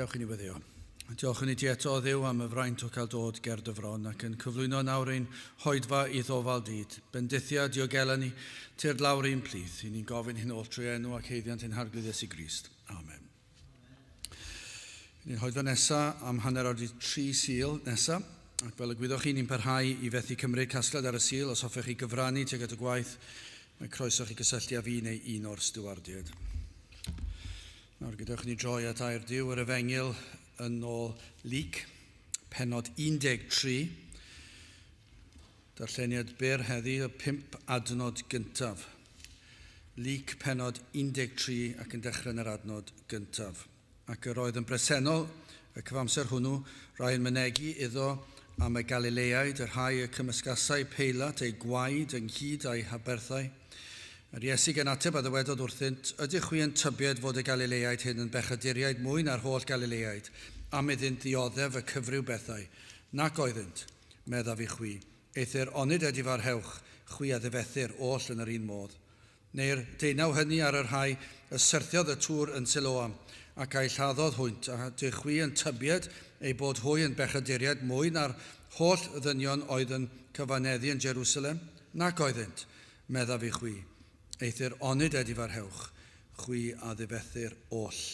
Dewch i ni weddio. Diolch yn i ti eto o ddew am y fraint o cael dod ger dy fron ac yn cyflwyno nawr ein hoedfa i ddofal dyd. Bendithia diogela ni, tyrd lawr ein plith. I ni'n gofyn hyn oll trwy enw ac heiddiant ein harglwyddes i Grist. Amen. Ni'n hoeddo nesa am hanner awr i tri sil nesa, ac fel y gwyddoch chi, ni'n parhau i fethu cymryd casgliad ar y sil. Os hoffech chi gyfrannu tuag at y gwaith, mae croeso chi gysylltu â fi neu un o'r stiwardiaid. Nawr gadewch ni droi at air Duw yr Efengyl yn ôl Luc, penod 13. Darlleniad byr heddi, y pump adnod gyntaf. Luc pennod 13 ac yn dechrau yn yr adnod gyntaf. Ac yr oedd yn bresennol, y cyfamser hwnnw, rai yn mynegi iddo am y Galileaid, y rhai y cymysgasai Peilat eu gwaed ynghyd â'u haberthau. Yr Iesu gan ateb a ddywedodd wrthynt, Ydych chwi yn tybied fod y Galileaid hyn yn bechaduriaid mwy na'r holl Galileaid, am iddynt ddioddef y cyfryw bethau? Nac oeddynt, meddaf i chwi, eithr onid a difarhewch chwi a ddifethir oll yn yr un modd? Neu'r deunaw hyny ar y rhai y syrthiodd y tŵr yn Siloam, ac a'u lladdodd hwynt, a dych chwi yn tybied eu bod hwy yn bechaduriaid mwy na'r holl ddynion oedd yn cyfaneddu yn Jerusalem? Nac oeddynt, meddaf i chwi, eithr onid a difarhewch chwi a ddifethir oll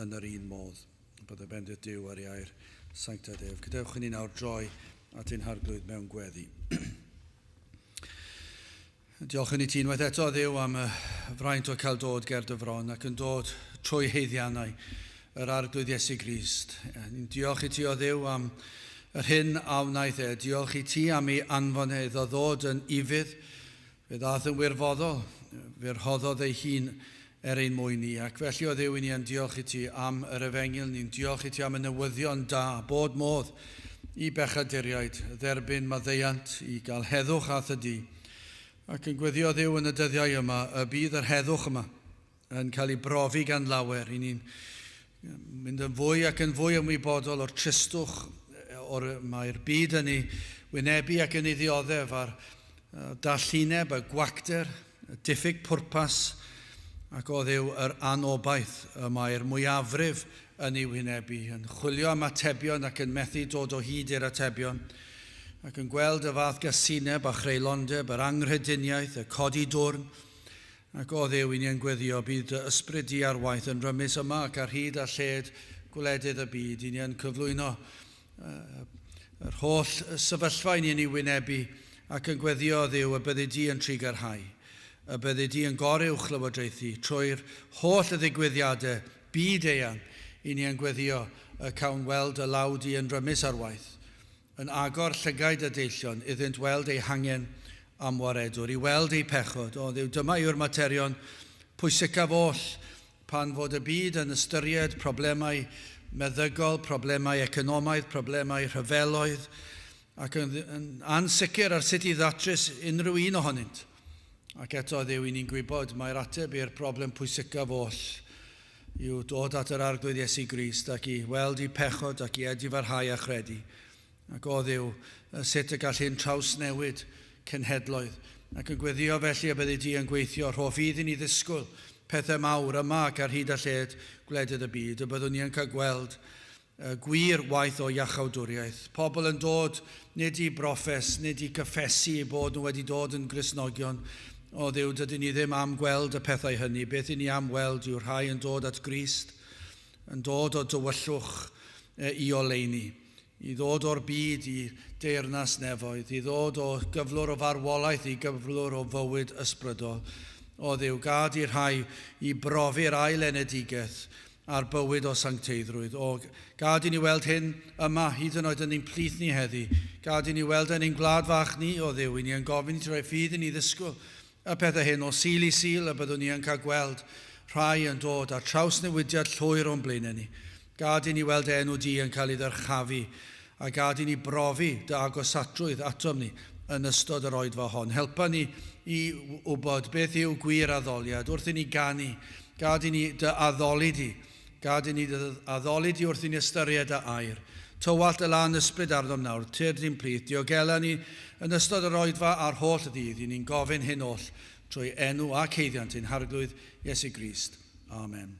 yn yr un modd. Bod y bendith Duw ar ei air, sanctaidd ef. Gadewch i ni nawr droi at ein harglwydd mewn gweddi. Diolch yn i ti unwaith eto, Dduw, am y fraint o cael dod ger dy fron ac yn dod trwy heiddiannau yr arglwydd Iesu Grist. Ni'n diolch i ti o Dduw am yr hyn a wnaeth e. Diolch i ti am ei anfon e iddo ddod yn ifydd Fe ddaeth yn wirfoddol, fe rhoddodd ei hun er ein mwyn ni, ac felly o Dduw i ni yn diolch i ti am yr efengyl, ni'n diolch i ti am y newyddion da bod modd i bechaduriaid dderbyn maddeuant i gael heddwch at y du, ac yn gweddio Dduw yn y dyddiau yma y bydd yr heddwch yma. yn cael ei brofi gan lawer. I ni'n mynd yn fwy ac yn fwy ymwybodol o'r tristwch o'r mae'r byd yn ei wynebu ac yn ei ddioddef a'r dallineb, y gwacter, y diffyg pwrpas ac oddiw yr anobaith y mae'r mwyafrif yn ei wynebu, yn chwilio am atebion ac yn methu dod o hyd i'r atebion, ac yn gweld y fath gasineb a chreulondeb, yr anghrediniaeth, y codi dwrn, Ac o Dduw i'n iengweddio, bydd dy ysbryd di ar waith yn rymus yma ac ar hyd a lled gwledydd y byd, i ni yn cyflwyno yr holl sefyllfa i ni yn ei wynebu, ac yn gweddio, o Dduw, y byddi di yn trigarhau, y byddi di yn goruwch lywodraethu trwy'r holl ddigwyddiadau byd-eang, i ni yn gweddio y cawn weld dy law di yn rymus ar waith, yn agor llygaid y deillion iddynt weld eu hangen am waredwr, i weld eu pechod. O Dduw, dyma yw'r materion pwysicaf oll, pan fod y byd yn ystyried problemau meddygol, problemau economaidd, problemau rhyfeloedd, ac yn, yn ansicr ar sut i ddatrys unrhyw un ohonynt. Ac eto, Dduw, i ni'n gwybod mai'r ateb i'r broblem pwysicaf oll yw dod at yr Arglwydd Iesu Grist ac i weld eu pechod ac i edifarhau a chredu. Ac o Dduw, a sut y gall hyn trawsnewid cenhedloedd. Ac yn gweddio felly y byddi di yn gweithio, rho ffydd i ni ddisgwyl pethau mawr yma ac ar hyd a lled gwledydd y byd, y byddwn ni yn cael gweld Y gwir waith o iachawdwriaeth, pobl yn dod nid i broffes, nid i gyffesu eu bod nhw wedi dod yn Gristnogion o Dduw, dydyn ni ddim am gweld y pethau hynny, beth i ni am weld yw rhai yn dod at Grist, yn dod o dywyllwch i oleuni, i ddod o'r byd i deyrnas nefoedd, i ddod o gyflwr o farwolaeth i gyflwr o fywyd ysbrydol. O Dduw, gad i rhai i brofi'r ail enedigaeth ar bywyd o sancteiddrwydd. O, gad i ni weld hyn yma, hyd yn oed yn ein plith ni heddi. Gad i ni weld e yn ein gwlad fach ni, o Dduw, i ni yn gofyn i ti roi ffydd i ni ddisgwyl y pethau hyn o Sul i Sul, y byddwn ni yn cael gweld rhai yn dod â trawsnewidiad llwyr o'n blaenau ni. Gad i ni weld dy enw di yn cael ei ddyrchafu A gad i ni brofi dy agosatrwydd atom ni yn ystod yr Oedfa hon. Helpa ni i wybod beth yw gwir addoliad wrth i ni ganu. Gad i ni dy addoli di. Gad i ni dy addoli di wrth i ni ystyried dy air. Tywallt dy lân ysbryd arnom nawr, tyrd i'n plith. Diogela ni yn ystod yr Oedfa a'r holl ddydd. I ni'n gofyn hyn oll trwy enw ac haeddiant ein Harglwydd Iesu Grist. Amen.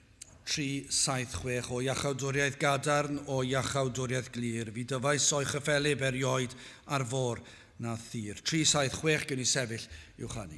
376 o Iachawdwriaeth Gadarn o Iachawdwriaeth Glir, fi dyfais o'i chyffelyb erioed ar fôr na thir. 376 gewn ni sefyll i'w chanu.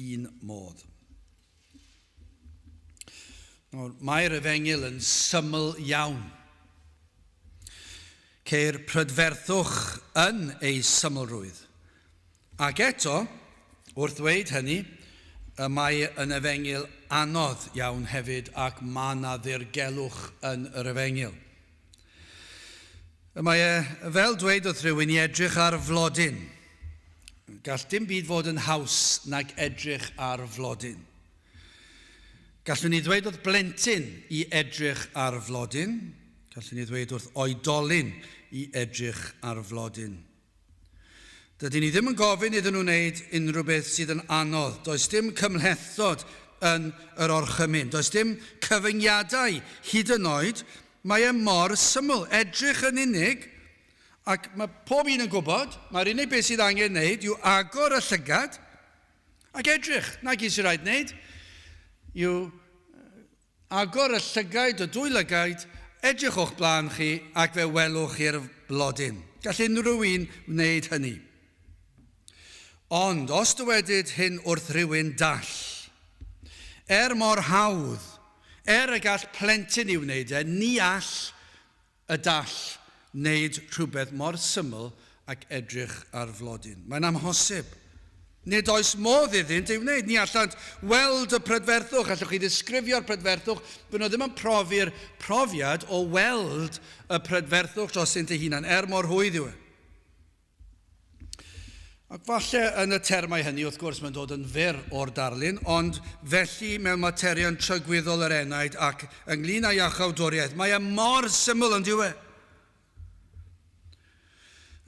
un modd. Nawr, mae'r efengyl yn syml iawn. Ceir prydferthwch yn ei symlrwydd. Ac eto, wrth ddweud hynny, y mae yn efengyl anodd iawn hefyd ac mae yna ddirgelwch yn yr efengyl. Y mae e, fel dwedodd rhywun, i edrych ar flodyn. Gall dim byd fod yn haws nag edrych ar flodyn. Gallwn ni ddweud wrth blentyn i edrych ar flodyn, gallwn ni ddweud wrth oedolyn i edrych ar flodyn. Dydyn ni ddim yn gofyn iddyn nhw wneud unrhyw beth sydd yn anodd, does dim cymhlethdod yn yr orchymyn, does dim cyfyngiadau hyd yn oed, mae e mor syml, edrych yn unig, ac mae pob un yn gwybod, mae'r unig beth sydd angen wneud yw agor y llygad ac edrych, 'na gyd sy'n rhaid wneud yw Agor y llygaid, y dwy lygaid, edrych o'ch blaen chi ac fe welwch chi'r blodyn. Gall unrhyw un wneud hynny. Ond os dywedid hyn wrth rywun dall, er mor hawdd, er y gall plentyn i wneud e, ni all y gall wneud rhywbeth mor syml ag edrych ar flodyn. Mae'n amhosib. Nid oes modd iddynt ei wneud. Ni allant weld y prydferthwch. Allwch chi ddisgrifio'r prydferthwch? Fy nhw ddim yn profi'r profiad o weld y prydferthwch drostynt eu hunain, er mor hwydd yw e. Ac falle yn y termau hynny, wrth gwrs, mae'n dod yn fyr o'r darlun, ond felly mewn materion trygwyddol yr enaid ac ynglyn â'i achawdwriaeth, mae e mor syml yn dyw e?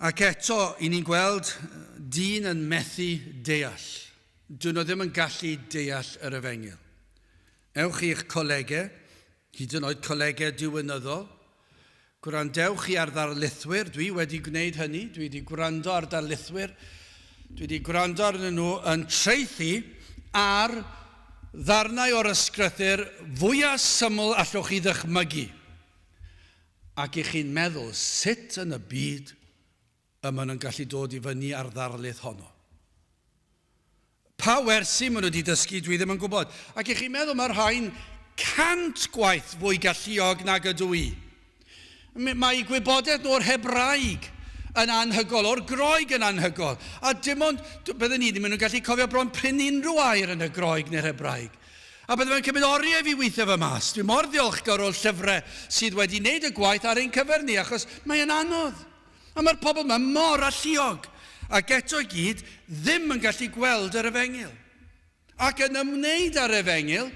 Ac eto, i ni'n gweld dyn yn methu deall. Dyn nhw ddim yn gallu deall yr efengyl. Ewch i'ch colegau, Hyd yn oed colegau diwinyddol. Gwrandewch i ar ddarlithwyr, dwi wedi gwneud hynny, dwi wedi gwrando ar darlithwyr, dwi wedi gwrando arnyn nhw yn traethu ar ddarnau o'r ysgrythyr fwya syml allwch chi ddychmygu, ac i chi'n meddwl sut yn y byd y maen nhw'n gallu dod i fyny â'r ddarlith honno. Pa wersi maen nhw wedi dysgu, dwi ddim yn gwybod. Ac i chi'n meddwl, mae rhain cant gwaith fwy galluog nag ydw i. Mae gwybodaeth nhw o'r Hebraeg yn anhygol, o'r Groeg yn anhygol. A dim ond, byddwn ni ddim yn gallu cofio bron prin unrhyw air yn y Groeg neu'r Hebraeg. A byddwn yn cymryd oriau fi weithio fy mas. Dwi mor ddiolchgar o'r llyfrau sydd wedi wneud y gwaith ar ein cyfer ni, achos mae'n anodd. A mae'r pobl yma mor alluog, ac eto i gyd ddim yn gallu gweld yr efengyl. Ac yn ymwneud â'r efengyl,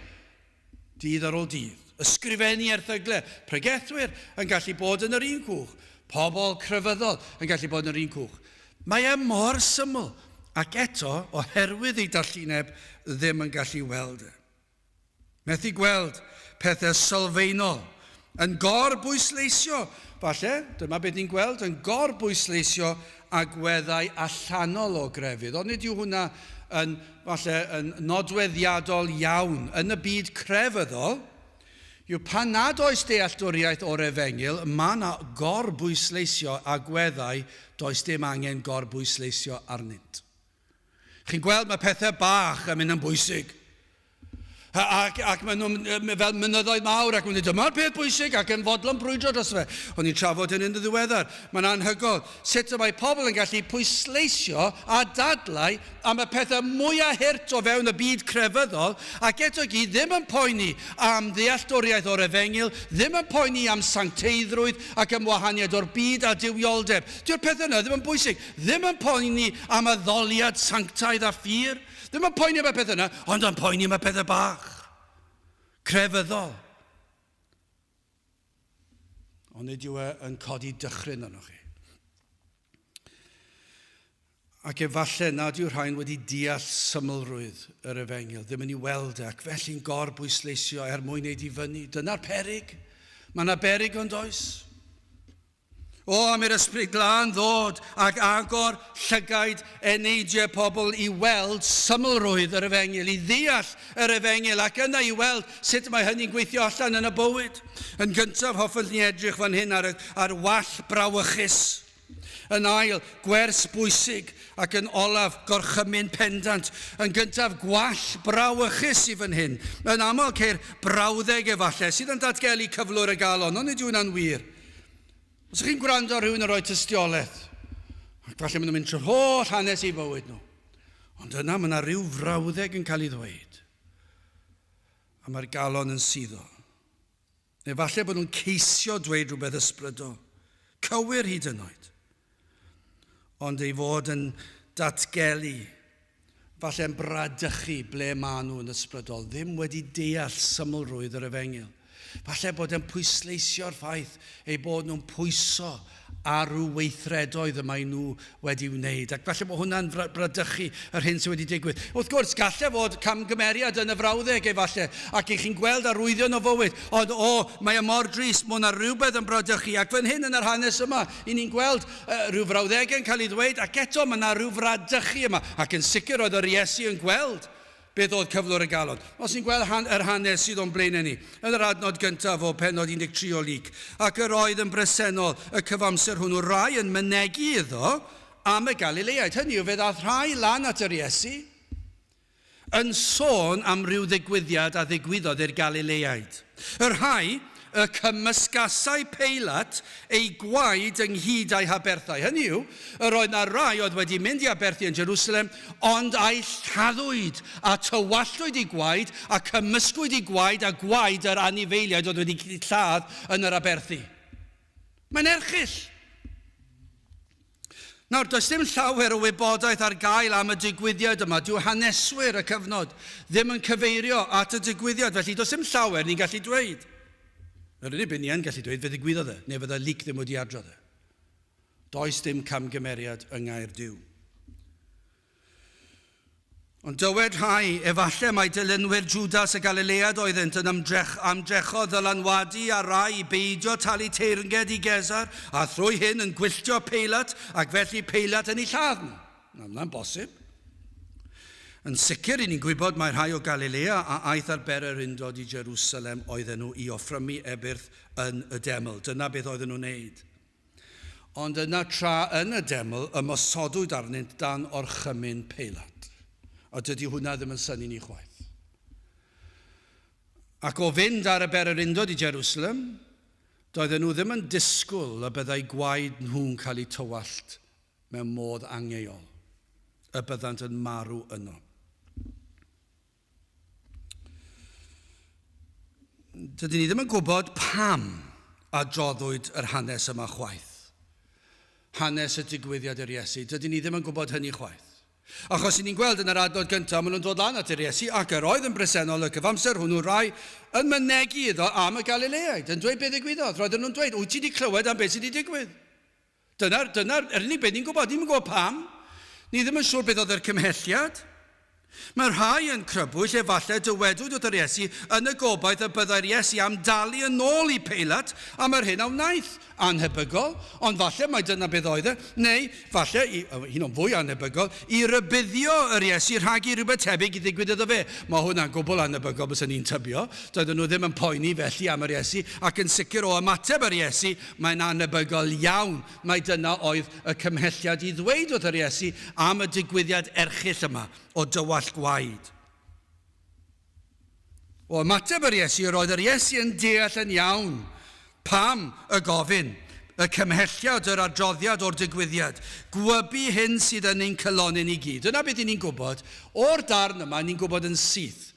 dydd ar ôl dydd, ysgrifennu erthygle, pregethwyr yn gallu bod yn yr un cwch, pobl crefyddol yn gallu bod yn yr un cwch. Mae e mor syml, ac eto, oherwydd ei dallineb, ddim yn gallu weld e. Methu gweld pethe sylfaenol yn gor-bwysleisio, falle, dyma be ni'n gweld, yn gor-bwysleisio agweddau allanol o grefydd, ond nid yw hwnna yn, falle, yn nodweddiadol iawn yn y byd crefyddol, yw pan nad oes dealltwriaeth o'r Efengyl, mae yna gor-bwysleisio agweddau does dim angen gor-bwysleisio arnynt. Chi'n gweld, mae pethau bach yn mynd yn bwysig. Ac, ac maen nhw'n fel mynyddoedd mawr ac wedi dyma'r peth bwysig ac yn fodlon brwydro dros fe. O'n i'n trafod hyn yn ddiweddar. Mae'n anhygoel sut y mae pobl yn gallu pwysleisio a dadlau am y pethau mwyaf hurt o fewn y byd crefyddol ac eto gyd ddim yn poeni am ddealltwriaeth o'r efengyl, ddim yn poeni am sancteiddrwydd ac am wahaniaeth o'r byd a duwioldeb. Dyw'r pethau yna ddim yn bwysig. Ddim yn poeni am addoliad sanctaidd a phur, ddim yn poeni am y pethau yna, ond yn poeni am y pethau bach, crefyddol. Ond nid yw e yn codi dychryn arnoch chi. Ac efallai nad yw rhain wedi deall symlrwydd yr efengil, ddim yn ei weld e, ac felly'n gor bwysleisio er mwyn ei difynnu. Dyna'r perig. Mae yna berig ond oes. O, am i'r Ysbryd Glân ddod ac agor llygaid eneidiau pobl i weld symlrwydd yr Efengyl, i ddeall yr Efengyl, ac yna i weld sut mae hynny'n gweithio allan yn y bywyd. Yn gyntaf, hoffent ni edrych fan hyn ar, ar wall brawychus. Yn ail, gwers bwysig, ac yn olaf, gorchymyn pendant. Yn gyntaf, gwall brawychus sydd fan hyn. Yn aml, ceir brawddeg efallai, sydd yn datgelu cyflwr y galon, ond nid yw hynna'n wir. Os ych chi'n gwrando ar rhywun yn rhoi tystiolaeth, ac falle maen nhw'n mynd trwy'r holl hanes i fywyd nhw, ond yna mae yna rhyw frawddeg yn cael ei ddweud, a mae'r galon yn suddo. Neu falle bod nhw'n ceisio dweud rhywbeth ysbrydol, cywir hyd yn oed. ond ei fod yn datgelu, falle'n bradychu ble maen nhw yn ysbrydol, ddim wedi deall symlrwydd yr Efengyl. Falle bod e'n pwysleisio'r ffaith eu bod nhw'n pwyso ar ryw weithredoedd y maen nhw wedi wneud, ac falle bod hwnna'n bradychu yr hyn sydd wedi digwydd. Wrth gwrs, gallai fod camgymeriad yn y frawddeg efallai, ac i chi'n gweld arwyddion o fywyd, ond o, mae e mor drist, mae yna rywbeth yn bradychu, ac fan hyn yn yr hanes yma, Y'n ni'n gweld rhyw frawddegau yn cael ei ddweud, ac eto mae yna ryw fradychu yma, ac yn sicr oedd yr Iesu yn gweld beth oedd cyflwr y galon. Os ni'n gweld han, yr hanes sydd o'n blaenau ni, yn yr adnod gyntaf o pennod 13 o Luc, ac yr oedd yn bresennol y cyfamser hwnnw rai yn mynegi iddo am y Galileaid, hynny yw, fe ddaeth rhai lan at yr Iesu, yn sôn am ryw ddigwyddiad a ddigwyddodd i'r Galileaid. Y rhai y cymysgasai Peilat eu gwaed ynghyd â'i haberthau, hynny yw, yr oedd na rai oedd wedi mynd i aberthu yn Jerusalem, ond a'i lladdwyd, a tywalltwyd eu gwaed, a cymysgwyd eu gwaed â gwaed yr anifeiliaid oedd wedi eu lladd yn yr aberthu. Mae'n erchyll! Nawr, does dim llawer o wybodaeth ar gael am y digwyddiad yma. Dyw haneswyr y cyfnod ddim yn cyfeirio at y digwyddiad, felly does dim llawer ni'n gallu dweud. Yr unig beth ni yn gallu dweud, fe ddigwyddodd e, neu fydda Luc ddim wedi adrodd e. Does dim camgymeriad yng Nghaerdyw. Ond dywed rhai, Efallai mai dilynwyr Jwdas y Galilëad oeddynt yn ymdrech, ymdrechodd ddylanwadu ar rai i beidio talu teyrnged i Gesar, a thrwy hyn yn gwylltio Peilat, ac felly Peilat yn eu lladd nhw. Nawr, mae'n bosib. Yn sicr, ry'n ni'n gwybod mai rhai o Galilea a aeth ar bererindod i Jerusalem oedden nhw i offrymu ebyrth yn y deml. Dyna beth oedden nhw'n wneud. Ond yna tra yn y deml ymosodwyd arnynt dan orchymyn Peilat. A dydy hwnna ddim yn synnu ni chwaith. Ac o fynd ar y bererindod i Jerusalem, doedden nhw ddim yn disgwyl y byddai gwaed nhw'n cael eu tywallt mewn modd angheuol, y byddant yn marw yno. Dydyn ni ddim yn gwybod pam adroddwyd yr hanes yma chwaith. Hanes y digwyddiad yr Iesu. Dydyn ni ddim yn gwybod hynny chwaith. Achos i ni'n gweld yn yr adnod gyntaf, maen nhw'n dod lan at yr Iesu ac yr oedd yn bresennol y cyfamser hwnnw rai yn mynegi iddo am y Galileaid, yn dweud beth ddigwyddodd. Roedden nhw'n dweud, wyt ti wedi clywed am beth sydd wedi digwydd? Dyna, dyna, yr unig beth ni'n gwybod. Ni'm yn gwybod pam. Ni ddim yn siŵr beth oedd yr cymhelliad. Mae rhai yn crybwyll, efallai, dywedwyd wrth yr Iesu, yn y gobaith y byddai'r Iesu am dalu yn ôl i Peilat am yr hyn a wnaeth. Annhebygol, ond falle mai dyna beth oedd e. Neu, falle, i, hyn o'n fwy annhebygol, i rybuddio yr Iesu rhag i rywbeth tebyg ddigwydd iddo fe. Mae hwnna'n gwbl annhebygol, bysen i'n tybio. Doedden nhw ddim yn poeni felly am yr Iesu, ac yn sicr o ymateb yr Iesu, Mae'n annebygol iawn mai dyna oedd y cymhelliad i ddweud wrth yr Iesu am y digwyddiad erchyll yma o dywallt gwaed. O ymateb yr Iesu, yr oedd yr Iesu yn deall yn iawn pam y gofyn, y cymhelliad, yr adroddiad o'r digwyddiad gwybu hyn sydd yn ein cylonyn i gyd. Dyna beth i ni'n gwybod o'r darn yma, ni'n gwybod yn syth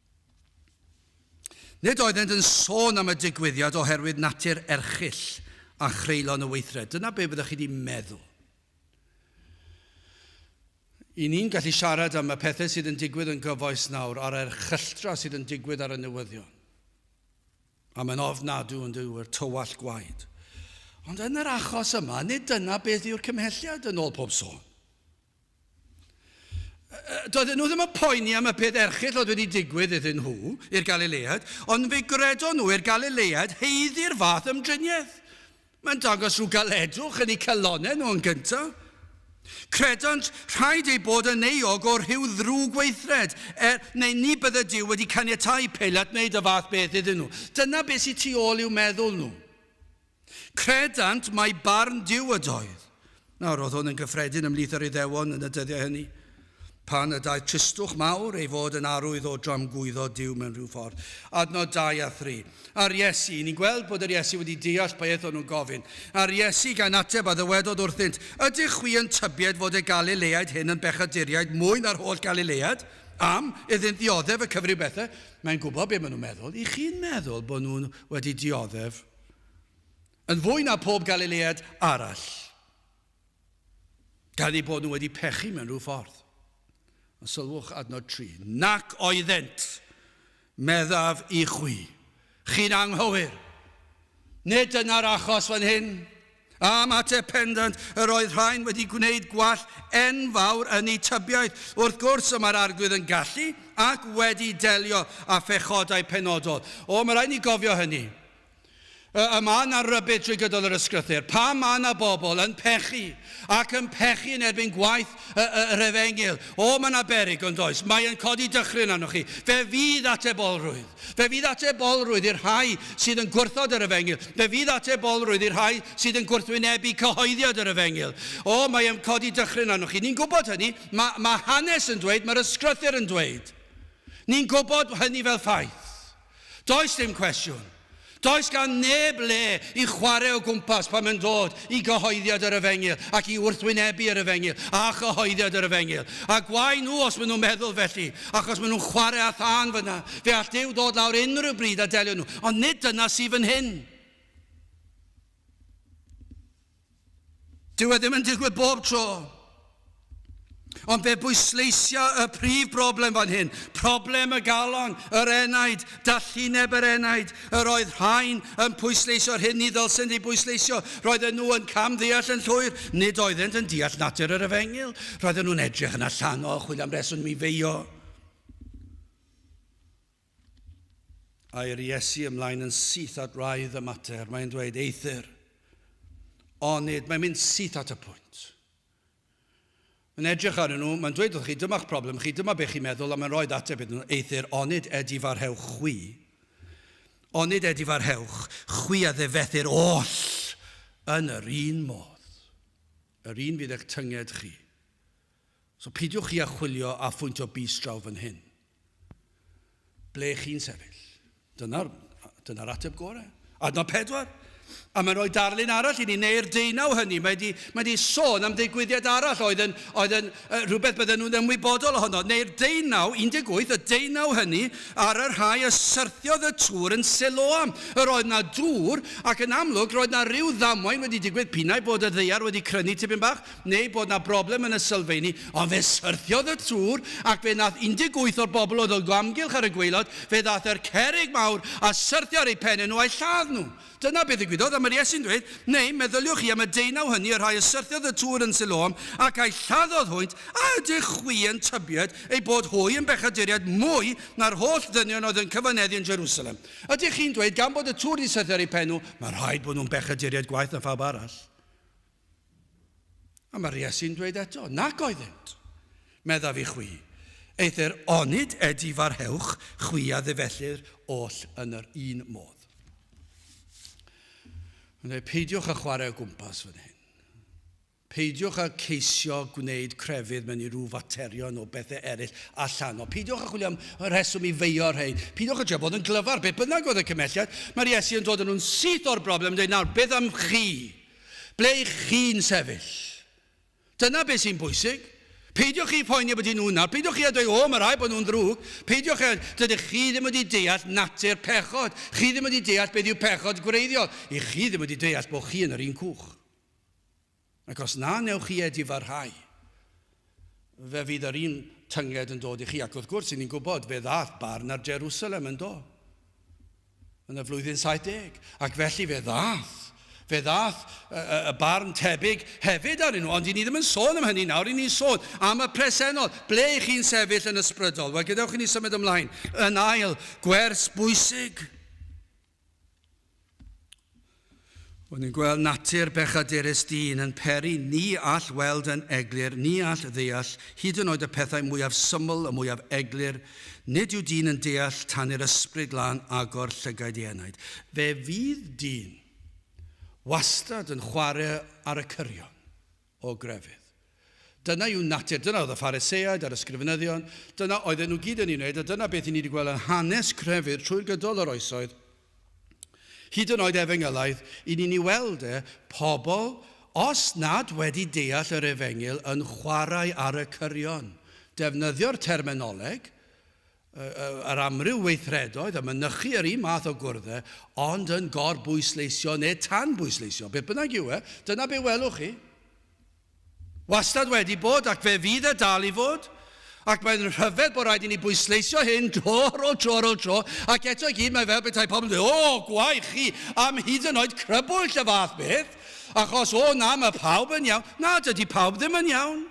Nid oeddent yn sôn am y digwyddiad oherwydd natur erchyll a chreulon y weithred. Dyna be fyddech chi wedi meddwl. Y ni'n gallu siarad am y pethau sydd yn digwydd yn gyfoes nawr a'r erchylltra sydd yn digwydd ar y newyddion. A mae'n ofnadw yn dyw yr tywallt gwaed. Ond yn yr achos yma, nid dyna beth yw'r cymhelliad yn ôl pob sôn. Doedden nhw ddim yn poeni am y peth erchyll oedd wedi digwydd iddyn nhw, i'r Galileaid, ond fe gredon nhw i'r Galileaid heiddi'r fath ymdriniaeth. Mae'n dangos rhyw galedwch yn eu calonnau nhw yn gyntaf. Credant rhaid ei bod yn euog o rhyw ddrwg gweithred, er, neu ni bydde Duw wedi caniatau Peilat wneud y fath beth iddyn nhw. Dyna beth sydd tu ôl i'w meddwl nhw. Credant mai barn Duw ydoedd. Nawr, oedd hwn yn gyffredin ymhlith yr Iddewon yn y dyddiau hynny, pan y daeth tristwch mawr ei fod yn arwydd o dramgwyddo Duw mewn rhyw ffordd. Adnod 2 a 3. A'r Iesu, ni'n gweld bod yr Iesu wedi deall beth o'n nhw'n gofyn. A'r Iesu, gan ateb, a ddywedodd wrthynt, Ydych chwi yn tybied fod y Galileaid hyn yn bechaduriaid mwy na'r holl Galileaid? Am, iddynt ddioddef y cyfryw bethau. Mae'n gwybod beth maen nhw'n meddwl. Y'ch chi'n meddwl bod nhw wedi dioddef? yn fwy na phob Galilead arall, gan eu bod nhw wedi pechu mewn rhyw ffordd. Ond sylwch adnod 3, nac oeddent, meddaf i chwi, chi'n anghywir. Nid dyna'r achos fan hyn. Am ateb pendant, yr oedd rhain wedi gwneud gwall enfawr yn eu tybiaeth. Wrth gwrs, y mae'r Arglwydd yn gallu ac wedi delio â phechodau penodol. O, mae rhaid ni gofio hynny. Y, y mae yna rybud drwy gydol yr ysgrythur. Pam mae yna bobl yn pechu ac yn pechu yn erbyn gwaith y, y, yr efengyl? O, mae yna berig, ond oes? Mae yn codi dychryn arnoch chi. Fe fydd atebolrwydd. Fe fydd atebolrwydd i'r rhai sydd yn gwrthod yr efengyl. Fe fydd atebolrwydd i'r rhai sydd yn gwrthwynebu cyhoeddiad yr efengyl. O, mae e'n codi dychryn arnoch chi. Ni'n gwybod hynny. Mae, mae hanes yn dweud, mae'r ysgrythyr yn dweud. Ni'n gwybod hynny fel ffaith. Does dim cwestiwn. Does gan neb le i chwarae o gwmpas pan mae'n dod i gyhoeddiad yr efengyl ac i wrthwynebu yr efengyl a chyhoeddiad yr efengyl. A gwae nhw os maen nhw'n meddwl felly, achos maen nhw'n chwarae â thân fan'na. Fe all Duw ddod lawr unrhyw bryd a delio nhw, ond nid dyna sydd fan hyn. Dyw e ddim yn digwydd bob tro. Ond fe bwysleisia y prif broblem fan hyn, problem y galon, yr enaid, dallineb yr enaid. Yr oedd rhain yn pwysleusio'r hyn ni ddylsent ei bwysleisio. Roedden nhw yn camddeall yn llwyr, nid oeddent yn deall natur yr efengyl. Roedden nhw'n edrych yn allanol, chwilio am reswm i feio. Air Iesu ymlaen yn syth at wraidd y mater. Mae'n dweud, eithr. Onid, mae'n mynd syth at y pwynt. Mae'n edrych arnyn nhw, mae'n dweud wrth chi, dyma'ch problem chi, dyma be chi'n meddwl, a mae'n rhoi ateb iddyn nhw, eithr, onid edifarhewch chwi, onid edifarhewch chwi a ddefethyr oll yn yr un modd, yr un fydd eich tynged chi. So peidiwch chi â chwilio a phwyntio bys draw fan hyn. Ble chi'n sefyll? Dyna'r dyna ateb gorau. Adnod pedwar. A mae'n rhoi darlun arall i ni, neu'r deunaw hynny. Mae wedi, mae wedi sôn am ddigwyddiad arall oedd yn, oedd yn uh, rhywbeth bydden nhw'n ymwybodol ohono. Neu'r deunaw, 18, y deunaw hynny ar y rhai y syrthiodd y tŵr yn Siloam. Yr oedd na dŵr, ac yn amlwg roedd na ryw ddamwain wedi digwydd pinnau bod y ddeiar wedi crynu tipyn bach. neu bod 'na broblem yn y sylfeini, ond fe syrthiodd y tŵr ac fe nath 18 o'r bobl oedd o amgylch ar y gwaelod, fe ddath yr cerrig mawr a syrthio ar eu penne nhw a'u lladd nhw. Dyna be ddigwyddodd, a mae'r Iesu'n dweud, neu, meddyliwch chi am y deunaw hynny, y rhai y syrthiodd y tŵr yn Siloam ac a'u lladdodd hwynt, a ydych chwi yn tybied eu bod hwy yn bechaduriaid mwy na'r holl ddynion oedd yn cyfaneddu yn Jerusalem? Ydych chi'n dweud, gan bod y tŵr 'di syrthio ar eu pen nhw, mae rhaid bod nhw'n bechaduriaid gwaeth na phawb arall? A mae'r Iesu'n dweud eto, Nac oeddynt, meddaf i chwi, eithr onid edi farhewch chwi a ddifellir oll yn yr un modd. Mae'n dweud, peidiwch â chwarae o gwmpas fan hyn. Peidiwch â ceisio gwneud crefydd mewn i rhyw faterion o bethau eraill allan. O, peidiwch â chwilio am reswm i feio rhain. Peidiwch â trio bod yn glyfar, be bynnag oedd y cymhelliad. Mae'r Iesu yn dod yn nhw'n syth o'r broblem yn dweud, nawr, beth am chi? Ble y'ch chi'n sefyll? Dyna be sy'n bwysig. Peidiwch chi phoeni byti nhw'n nawr. Peidiwch chi a dweud, O, mae rhaid bod nhw'n ddrwg. Peidiwch a... Dydych chi ddim wedi deall natur pechod. Chi ddim wedi deall beth yw pechod gwreiddiol. Y'ch chi ddim wedi deall bod chi yn yr un cwch. Ac os na wnewch chi edifarhau, fe fydd yr un tynged yn dod i chi. Ac wrth gwrs, 'y ni'n gwybod, fe ddaeth barn ar Jerusalem, yn do? yn y flwyddyn 70, ac felly fe ddaeth, fe ddaeth y, y, y barn tebyg hefyd arnyn nhw, ond i ni ddim yn sôn am hynny nawr, i ni'n sôn am y presennol, ble i chi'n sefyll yn ysbrydol. Wel, gadewch i ni symud ymlaen, yn ail, gwers bwysig. O'n i'n gweld natur bechadurus dyn yn peri, ni all weld yn eglur, ni all ddeall, hyd yn oed y pethau mwyaf syml, y mwyaf eglur, nid yw dyn yn deall tan i'r Ysbryd Glân agor llygaid ei enaid. Fe fydd dyn wastad yn chwarae ar y cyrion. o grefydd. Dyna yw natur, dyna oedd y Phariseaid a'r Ysgrifenyddion, dyna oedden nhw gyd yn ei wneud, a dyna beth i ni wedi gweld yn hanes crefydd trwy'r gydol yr oesoedd, hyd yn oed Efengylaidd, i ni'n ei weld e, pobl, os nad wedi deall yr Efengyl, yn chwarae ar y cyrion, defnyddio'r terminoleg, yr amryw weithredoedd a mynychu yr un math o gwrdd-e, ond yn gor-bwysleisio neu tan-bwysleisio, beth bynnag yw e, dyna be welwch chi. Wastad wedi bod, ac fe fydd e dal i fod. Ac mae'n rhyfedd bod rhaid i ni bwysleisio hyn tro ar ôl tro ar ôl tro, ac eto i gyd mae fel petai pobl yn dweud, O, gwae chi am hyd yn oed crybwyll y fath beth, achos, o na, mae pawb yn iawn. Na, dydy pawb ddim yn iawn.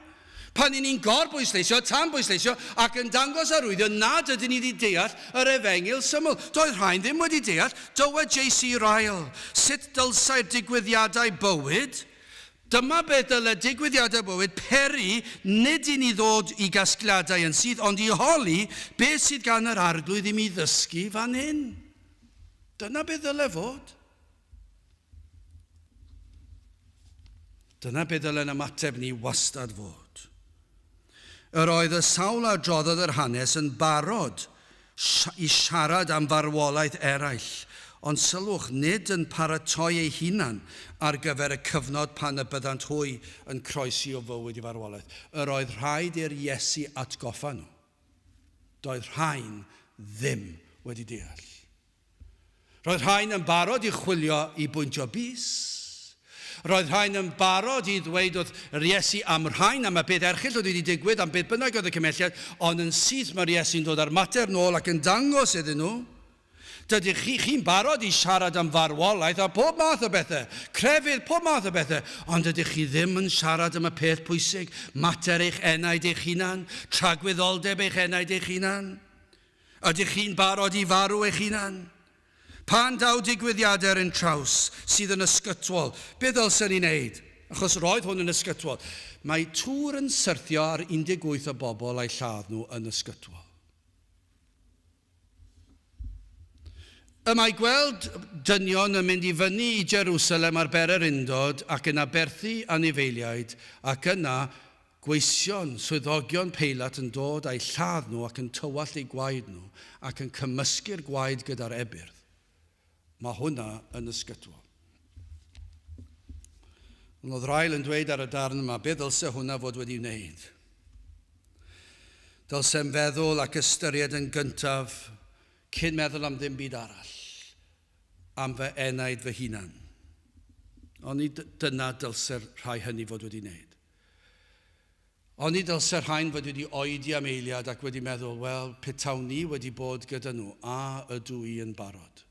Pan 'yn ni'n gor-bwysleisio, tan-bwysleisio ac yn dangos arwyddion nad ydyn ni wedi deall yr efengyl syml, doedd rhai'n ddim wedi deall, dywed JC Ryle, sut dylsai'r digwyddiadau bywyd, dyma beth dyle digwyddiadau bywyd peri nid i ni ddod i gasgliadau yn syth ond i holi beth sydd gan yr Arglwydd i mi ddysgu fan hyn. Dyna beth ddyle fod. Dyna be ddylen ymateb ni wastad fod. Yr oedd y sawl a droddodd yr hanes yn barod i siarad am farwolaeth eraill, ond sylwch, nid yn paratoi eu hunan ar gyfer y cyfnod pan y byddant hwy yn croesi o fywyd i farwolaeth. Yr oedd rhaid i'r Iesu atgoffa nhw. Doedd rhain ddim wedi deall. Roedd rhain yn barod i chwilio i bwyntio bys. Roedd rhain yn barod i ddweud wrth yr Iesu am rhain, am y peth erchyll oedd wedi digwydd, am beth bynnag oedd y cymhelliad, ond yn syth mae'r Iesu'n dod â'r mater nôl ac yn dangos iddyn nhw, Dydych chi, chi'n barod i siarad am farwolaeth a phob math o bethau, crefydd, pob math o bethau, ond dydych chi ddim yn siarad am y peth pwysig, mater eich enaid eich hunan, tragwyddoldeb eich enaid eich hunan. Ydych chi'n barod i farw eich hunan? Pan daw digwyddiadau ar ein traws sydd yn ysgytwol, beth ddylsen ni wneud? Achos roedd hwn yn ysgytwol. Mae tŵr yn syrthio ar 18 o bobl a'u lladd nhw yn ysgytwol. Y mae gweld dynion yn mynd i fyny i Jerusalem ar bererindod ac yn aberthu anifeiliaid ac yna Gweision, swyddogion peilot yn dod â'u lladd nhw ac yn tywallt eu gwaed nhw ac yn cymysgu'r gwaed gyda'r ebyrdd. Mae hwnna yn ysgytwol. Ond oedd Ryle yn dweud ar y darn yma, be ddylse hwnna fod wedi wneud? Dylsem feddwl ac ystyried yn gyntaf, cyn meddwl am ddim byd arall, am fy enaid fy hunan. Ond ni dyna dylse'r rhai hynny fod wedi wneud. Oni dylse'r rhain fod wedi oedi am eiliad ac wedi meddwl, 'Wel, petawn i wedi bod gyda nhw, a ydw i yn barod?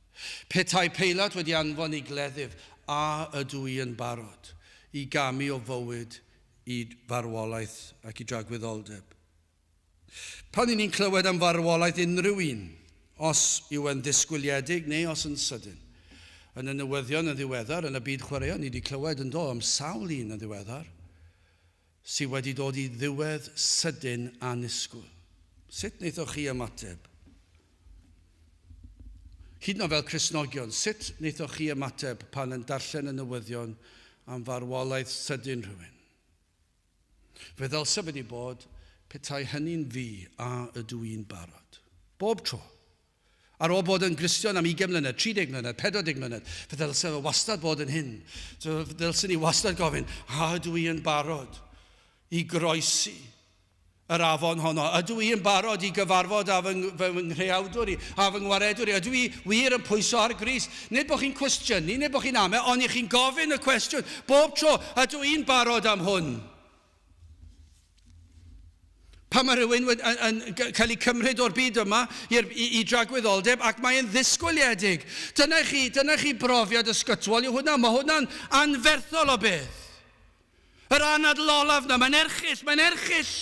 Petai Peilat wedi anfon i gleddyf, a ydw i yn barod i gamu o fywyd i farwolaeth ac i dragwyddoldeb? Pan 'y ni'n clywed am farwolaeth unrhyw un, os yw e'n ddisgwyliedig neu os yn sydyn. Yn y newyddion yn ddiweddar, yn y byd chwaraeon, ni 'di clywed, yn do, am sawl un yn ddiweddar, sy' wedi dod i ddiwedd sydyn annisgwl. Sut wnaethoch chi ymateb? Hyd yn oed fel Cristnogion, sut wnaethoch chi ymateb pan yn darllen y newyddion am farwolaeth sydyn rhywun? Fe ddylse wedi bod, petai hynny'n fi, a ydw i'n barod? Bob tro! Ar ôl bod yn Gristion am ugain mlynedd, tri deg mlynedd, pedwar deg mlynedd, fe ddylse fe wastad bod yn hyn. Ddylsen ni wastad gofyn, a ydw i yn barod i groesi yr afon honno? Ydw i yn barod i gyfarfod â fy, fy nghreawdwr i, â fy ngwaredwr i? Ydw i wir yn pwyso ar Grist? Nid bod chi'n cwestiynu, nid bod chi'n ame, ond i chi'n gofyn y cwestiwn bob tro, ydw i'n barod am hwn? Pan mae rhywun yn, yn, yn cael ei cymryd o'r byd yma i, i, i dragwyddoldeb ac mae'n ddisgwyliedig. Dyna chi, dyna chi brofiad ysgytwol yw hwnna. Mae hwnna'n anferthol o beth. Yr anadl olaf 'na, mae'n erchyll, mae'n erchyll!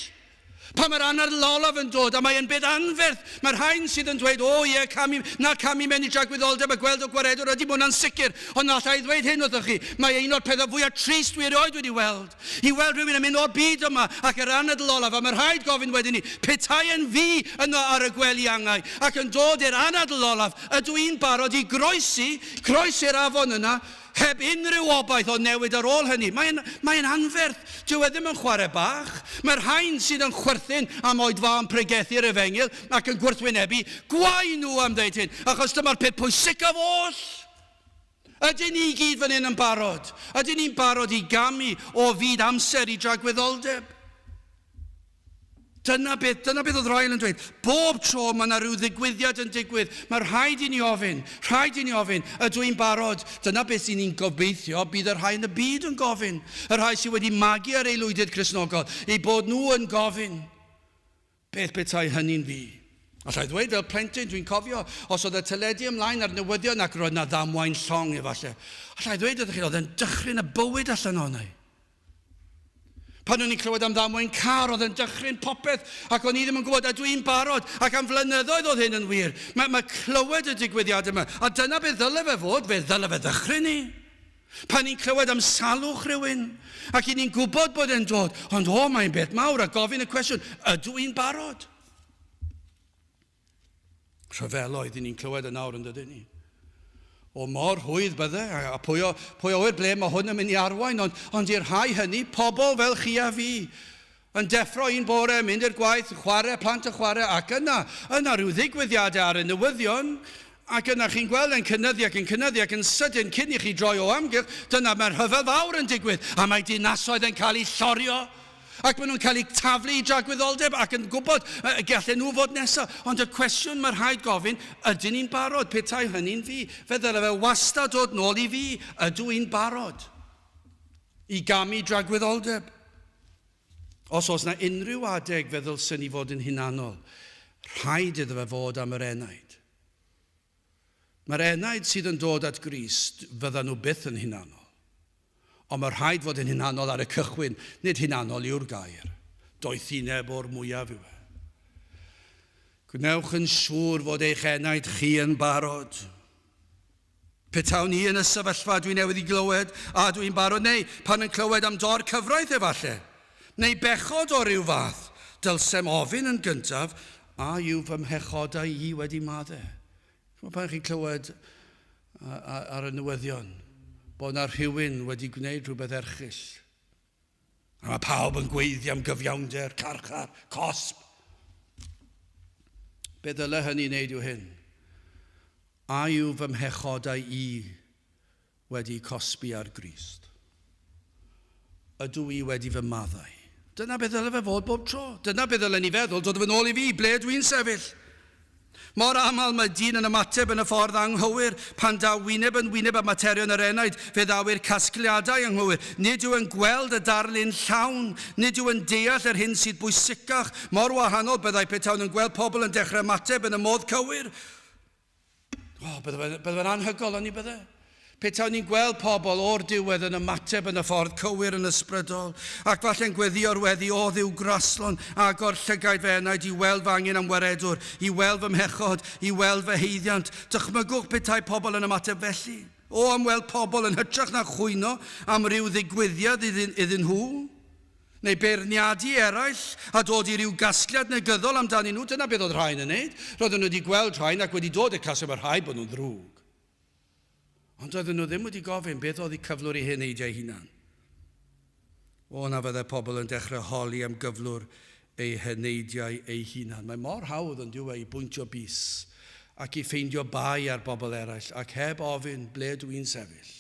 Pan mae'r anadl olaf yn dod, a mae yn beth anferth, mae'r rhain sydd yn dweud, O ie, camu, na camu mewn i dragwyddoldeb a gweld o gwaredwr, ydy, mae hwnna'n sicr, ond na alla i ddweud hyn wrthoch chi, mae e un o'r pethau fwyaf trist dwi erioed wedi weld, i weld rhywun yn mynd o'r byd yma ac yr anadl olaf, a mae rhaid gofyn wedyn ni, petai yn fi yno ar y gwely angau, ac yn dod i'r anadl olaf, ydw i'n barod i groesi, croesi'r afon yna, Heb unrhyw obaith o newid ar ôl hynny. Mae'n mae anferth. Dyw e ddim yn chwarae bach. Mae'r rhain sydd yn chwerthin am oed fa yn pregethu'r efengyl ac yn gwrthwynebu, gwae nhw am ddeud hyn, achos dyma'r peth pwysicaf oll! Ydyn ni i gyd fan hyn yn barod? Ydyn ni'n barod i gamu o fyd amser i dragwyddoldeb? Dyna beth, dyna beth oedd Royal yn dweud. Bob tro mae yna rhyw ddigwyddiad yn digwydd, mae rhaid i ni ofyn, rhaid i ni ofyn, ydw i'n barod? Dyna beth sy'n ni'n gobeithio bydd y rhai yn y byd yn gofyn, y rhai sydd wedi magu ar aelwydydd Cristnogol, eu bod nhw yn gofyn, beth petai hynny'n fi? Alla i ddweud fel plentyn, dwi'n cofio, os oedd y teledu ymlaen a'r newyddion ac roedd yna ddamwain llong efallai, alla i ddweud wrthych chi, oedd e'n dychryn y bywyd allan ohona i. Pan o'n i'n clywed am ddamwain car, oedd e'n dychryn popeth, ac o'n i ddim yn gwybod, a dwi'n barod, ac am flynyddoedd oedd hyn yn wir. Mae, mae clywed y digwyddiad yma, a dyna beth ddyle fe fod, fe ddyle fe ddychryn ni. Pan ni'n clywed am salwch rhywun, ac i ni'n gwybod bod e'n dod, ond o, mae'n beth mawr, a gofyn y cwestiwn, ydw i'n barod? Rhyfeloedd i ni'n clywed yn nawr yn dydyn ni. O mor hwydd bydde, a pwy o, pwy o ble mae hwn yn mynd i arwain, ond, ond i'r rhai hynny, pobl fel chi a fi, yn deffro un bore, mynd i'r gwaith, chwarae, plant yn chwarae, ac yna, yna rhyw ddigwyddiadau ar y newyddion, Ac yna chi'n gweld e'n cynyddu ac yn cynyddu ac yn sydyn cyn i chi droi o amgylch, dyna mae'r rhyfel fawr yn digwydd a mae dinasoedd yn cael eu llorio ac maen nhw'n cael eu taflu i dragwyddoldeb ac yn gwybod y gallen nhw fod nesaf. Ond y cwestiwn mae rhaid gofyn, ydyn ni'n barod? Petai hynny'n fi, fe ddylai fe wastad dod nôl i fi, ydw i'n barod i gamu dragwyddoldeb? Os oes na unrhyw adeg fe ddylsen i fod yn hunanol, rhaid iddo fe fod am yr enaid. Mae'r enaid sydd yn dod at Grist, fyddan nhw byth yn hunanol. Ond mae rhaid fod yn hunanol ar y cychwyn, nid hunanol yw'r gair. Doethineb o'r mwyaf yw e. Gwnewch yn siŵr fod eich enaid chi yn barod. Petawn i yn y sefyllfa dwi newydd i glywed a ydw i'n barod neu pan yn clywed am dor cyfraith efalle, neu bechod o ryw fath, dylsem ofyn yn gyntaf a yw fy mhechodau i wedi madde? Ch'mod pan chi'n clywed ar y newyddion bod 'na rhywun wedi gwneud rhywbeth erchyll? Mae pawb yn gweiddi am gyfiawnder, carchar, cosb. Be ddyle hynny wneud yw hyn? A yw fy mhechodau i wedi cosbi ar Grist? Ydw i wedi fy maddau? Dyna be ddyle fe fod bob tro. Dyna be ddylen ni feddwl, dod fy nôl i fi, ble ydw i'n sefyll? Mor aml mae dyn yn ymateb yn y ffordd anghywir. Pan daw wyneb yn wyneb â materion yr enaid, fe ddaw i'r casgliadau anghywir. Nid yw e'n gweld y darlun llawn. Nid yw yn deall yr hyn sydd bwysicach. Mor wahanol byddai petawn yn gweld pobl yn dechrau ymateb yn y modd cywir. O, bydde fe'n anhygoel, oni bydde? Petawn ni'n gweld pobl o'r diwedd yn ymateb yn y ffordd cywir yn ysbrydol, ac falle'n gweddïo'r weddi, O Dduw, graslon agor llygaid fy enaid i weld fy angen am waredwr, i weld fy mhechod, i weld fy haeddiant. Dychmygwch petai pobl yn ymateb felly. O, am weld pobl yn hytrach na chwyno am ryw ddigwyddiad iddyn, iddyn nhw, neu beirniadu i eraill, a dod i ryw gasgliad negyddol amdanyn nhw, dyna beth oedd rhain yn wneud. Roedden nhw wedi gweld rhain ac wedi dod i'r casgliad mae rhaid bod nhw'n ddrwg. Ond doedden nhw ddim wedi gofyn beth oedd eu cyflwr i hyn eidiau hunan. O na fyddai pobl yn dechrau holi am gyflwr eu heneidiau eu hunan. Mae mor hawdd yn dyw e i bwyntio bys ac i ffeindio bai ar bobl eraill ac heb ofyn ble dw i'n sefyll.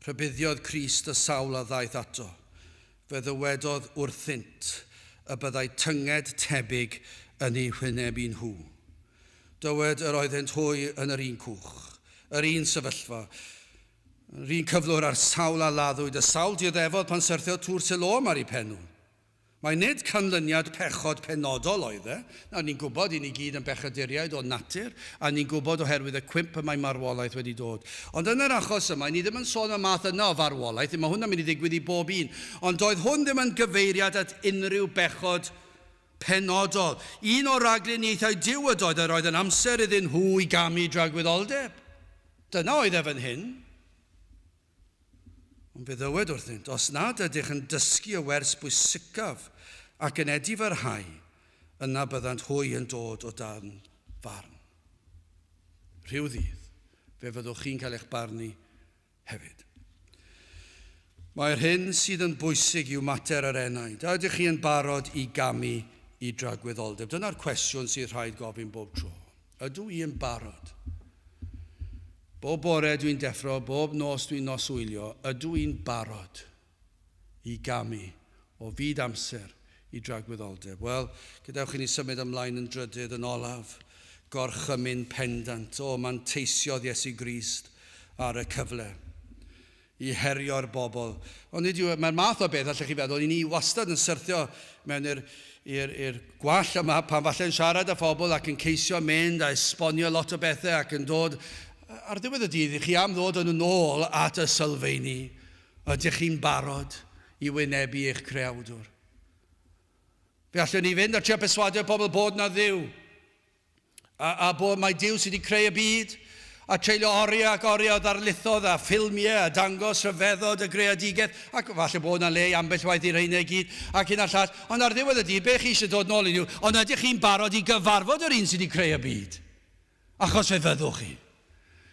Rhybuddiodd Crist y sawl a ddaeth ato. Fe ddywedodd wrthynt y byddai tynged tebyg yn eu hwyneb i nhw. Dywed yr oeddent hwy yn yr un cwch, yr un sefyllfa, yr un cyflwr a'r sawl a laddwyd y sawl dioddefod pan syrthiodd Tŵr Siloam ar ei phenw. Mai nid canlyniad pechod penodol oedd e, nawr ni'n gwybod, i ni gyd yn bechaduriaid o natur, a ni'n gwybod oherwydd y cwymp y mae marwolaeth wedi dod. Ond yn yr achos yma, i ni ddim yn sôn am y math yna o farwolaeth, mae hwnna'n mynd i ddigwydd i bob un, ond doedd hwn ddim yn gyfeiriad at unrhyw bechod penodol, un o ragluniaethau Duw ydoedd yr oedd yn amser iddyn nhw i gamu dragwyddoldeb. Dyna oedd ef yn hyn. Ond fe ddywed wrthynt, os nad ydych yn dysgu y wers bwysicaf ac yn edifyrhau, yna byddant hwy yn dod o dan farn. Rhyw ddydd, fe fyddwch chi'n cael eich barnu hefyd. Mae'r hyn sydd yn bwysig yw mater yr enaid. A ydych chi yn barod i gamu i dragwyddoldeb? Dyna'r cwestiwn sydd rhaid gofyn bob tro. Ydw i yn barod? Bob bore dwi'n deffro, bob nos dwi'n noswylio, ydw i'n barod? i gamu o fyd amser i dragwyddoldeb. Wel, gadewch i ni symud ymlaen yn drydydd, yn olaf, gorchymyn pendant. O, manteisiodd Iesu Grist ar y cyfle i herio'r bobl. Ond nid yw e, mae'r math o beth, allech chi feddwl, i ni wastad yn syrthio mewn i'r, i'r, i'r gwall yma pan falle yn siarad â phobl ac yn ceisio mynd a esbonio lot o bethau ac yn dod ar ddiwedd y dydd i chi am ddod yn ôl at y sylfeini Ydych chi'n barod i wynebu eich Creawdwr? Fe allwn ni fynd a trio perswadio pobl bod 'na Dduw, a, a bod mai Duw sydd wedi creu y byd, a treulio oriau ac oriau o ddarlithoedd a ffilmiau a dangos rhyfeddod y greadigaeth, ac falle bod 'na le i ambell waith i reina i gyd, ac hyn a llall, ond ar ddiwedd y dydd, be chi eisiau dod nôl i Dduw, ond ydych chi'n barod i gyfarfod yr un sydd wedi creu y byd? Achos fe fyddwch chi.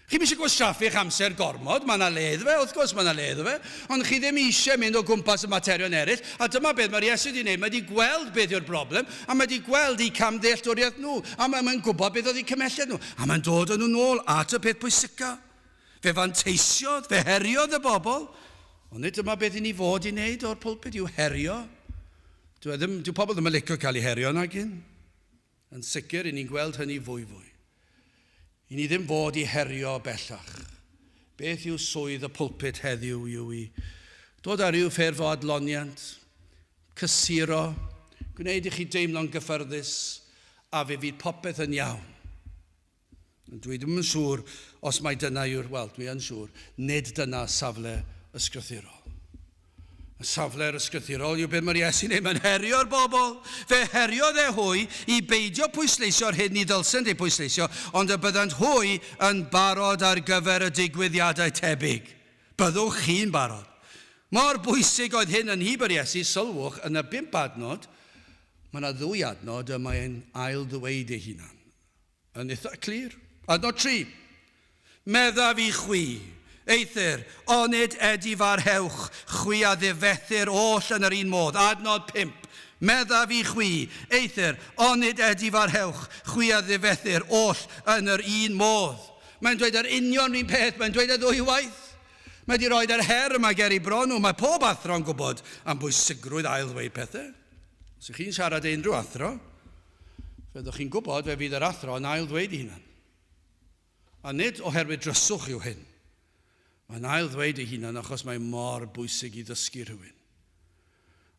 Chi ddim eisiau gwastraffu eich amser gormod, mae yna le iddo fe, wrth gwrs mae yna le iddo fe, ond chi ddim eisiau mynd o gwmpas y materion eraill, a dyma beth mae'r Iesu wedi gwneud, mae wedi gweld beth yw'r broblem, a mae wedi gweld eu camddealltwriaeth nhw, a mae mae'n gwybod beth oedd eu cymhelliad nhw, a mae'n dod â nhw nôl at y peth pwysica. Fe fanteisiodd, fe heriodd y bobl, ond nid dyma beth i ni fod i wneud o'r pulpud yw herio. Dyw e ddim, dyw pobl ddim yn licio cael eu herio nagyn? Yn sicr, i ni'n gweld hynny fwyfwy. I ni ddim fod i herio bellach. Beth yw swydd y pulpud heddiw? Yw i ddod â rhyw ffurf o adloniant, cysuro, gwneud i chi deimlo'n gyffyrddus a fe fydd popeth yn iawn? Dwi ddim yn siŵr os mai dyna yw'r, wel, dwi yn siŵr, nid dyna safle ysgrythurol. Y safle'r ysgrythurol yw be mae'r Iesu'n ei mae'n herio'r bobl. Fe heriodd e hwy i beidio pwysleisio'r hyn ni ddylsent ei pwysleisio, ond y byddant hwy yn barod ar gyfer y digwyddiadau tebyg. Byddwch chi'n barod. Mor bwysig oedd hyn yn nhyb yr Iesu, sylwch, yn y bump adnod, mae yna ddwy adnod y mae'n ail-ddweud ei hunan. yn eitha clir. Adnod tri. Meddaf i chwi, eithr, onid edifarhewch chwi a ddifethr oll yn yr un modd? Adnod pump. Meddaf i chwi, eithr, onid edifarhewch chwi a ddifethr oll yn yr un modd? Mae'n dweud yr union run peth, mae'n dweud e ddwywaith. Mae wedi rhoi yr her yma ger i bron nhw. Mae pob athro'n gwybod am bwysigrwydd ail-ddweud pethau. Os ych chi'n siarad i unrhyw athro, Fe ydych chi'n gwybod, fe fydd yr athro yn ail-ddweud ei hunan. A nid oherwydd dryswch yw hyn. Mae'n ail-ddweud ei hunan achos mae mor bwysig i ddysgu rhywun.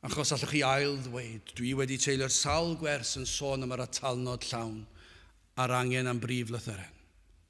Achos allwch chi ail-ddweud, dwi wedi teilio'r sawl gwers yn sôn am yr atalnod llawn a'r angen am brif lythyren.